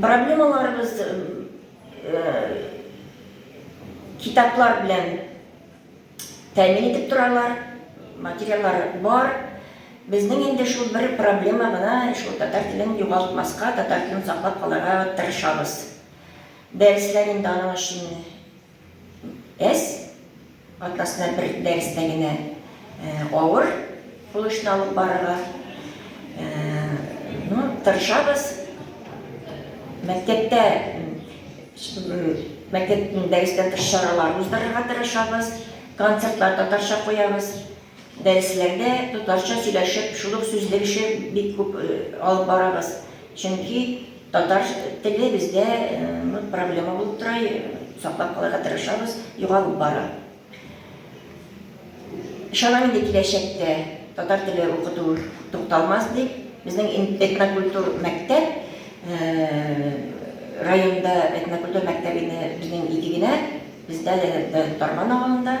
Проблемаларыбыз китаплар белән тәэмин итеп торалар, материаллар бар. Безнең инде шул бер проблема гына, шул татар телен югалтмаска, татар телен саклап калырга тырышабыз. Дәресләр инде аның өчен Эс атнасына бер дәрестә генә авыр булышны алып барырга тырышабыз. Мәктәптә мәктәптә дәрестә тыш чаралар уздырырга тырышабыз, концертлар татарча куябыз. Дәресләрдә татарча сөйләшеп, шул ук сүзлек эше бик күп алып барабыз. Чөнки татар теле бездә проблема булып тора, саклап калырга тырышабыз, югалып бара. Ышанам инде киләчәктә татар теле укыту тукталмас дип. Безнең этнокультур мәктәп районда этнокультур мәктәбе безнең ике генә, бездә Тарман авылында.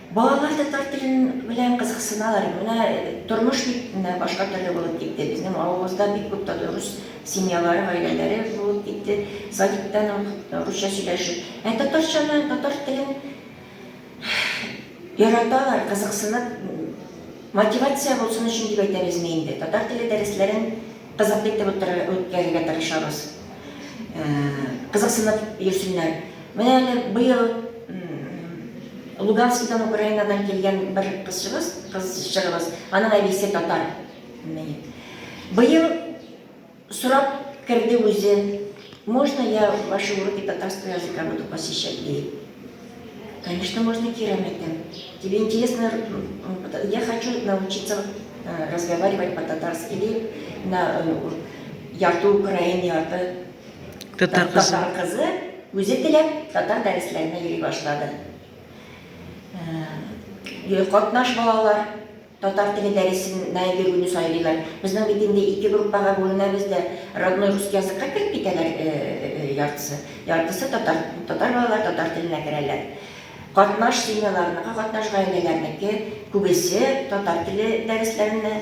Балалар татар телен белән кызыксыналар. Менә тормыш бит менә башка төрле булып китте. Безнең авылыбызда бик күп татарус семьялары, гаиләләре булып китте. Садиктан ук русча сөйләшеп. Ә татарчаны, татар телен яраталар, кызыксынып, мотивация булсын өчен дип әйтәбезме инде. Татар теле дәресләрен Кызыклы итеп үткәрергә тырышабыз. Кызыксынып йөрсеннәр. Менә әле быел Луганскидан, Украинадан килгән бер кызчыгыз, кызчыгыбыз, аның әбисе татар. Быел сорап керде үзе, можно я ваши уроки татарского языка буду посещать, ди. Конечно, можно керамика. Тебе интересно, э, я хочу научиться э, разговаривать по-татарски или на э, ярты украин, ярты татар кызы. Татар кызы үзе теләп татар дәресләренә йөри башлады. Катнаш балалар Татар теле дәресен мәеге көне сайлыйлар. Безнең бит инде ике группага бүленәбез дә, родной русский языкка кереп китәләр яртысы. Яртысы татар, татар балалар татар теленә керәләр. Катнаш семьяларныкы, катнаш гаиләләрнеке күбесе татар теле дәресләренә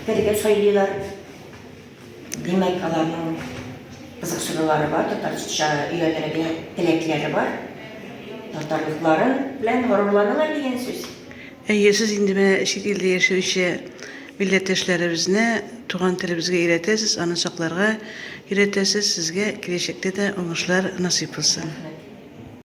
керергә сайлыйлар. Димәк, аларның кызыксынулары бар, татарча өйрәнергә теләкләре бар. Татарлыклары белән горурланалар дигән сүз. Әйе, сез инде менә чит илдә яшәүче милләттәшләребезне туган телебезгә өйрәтәсез, аны сакларга өйрәтәсез. Сезгә киләчәктә дә уңышлар насыйп булсын.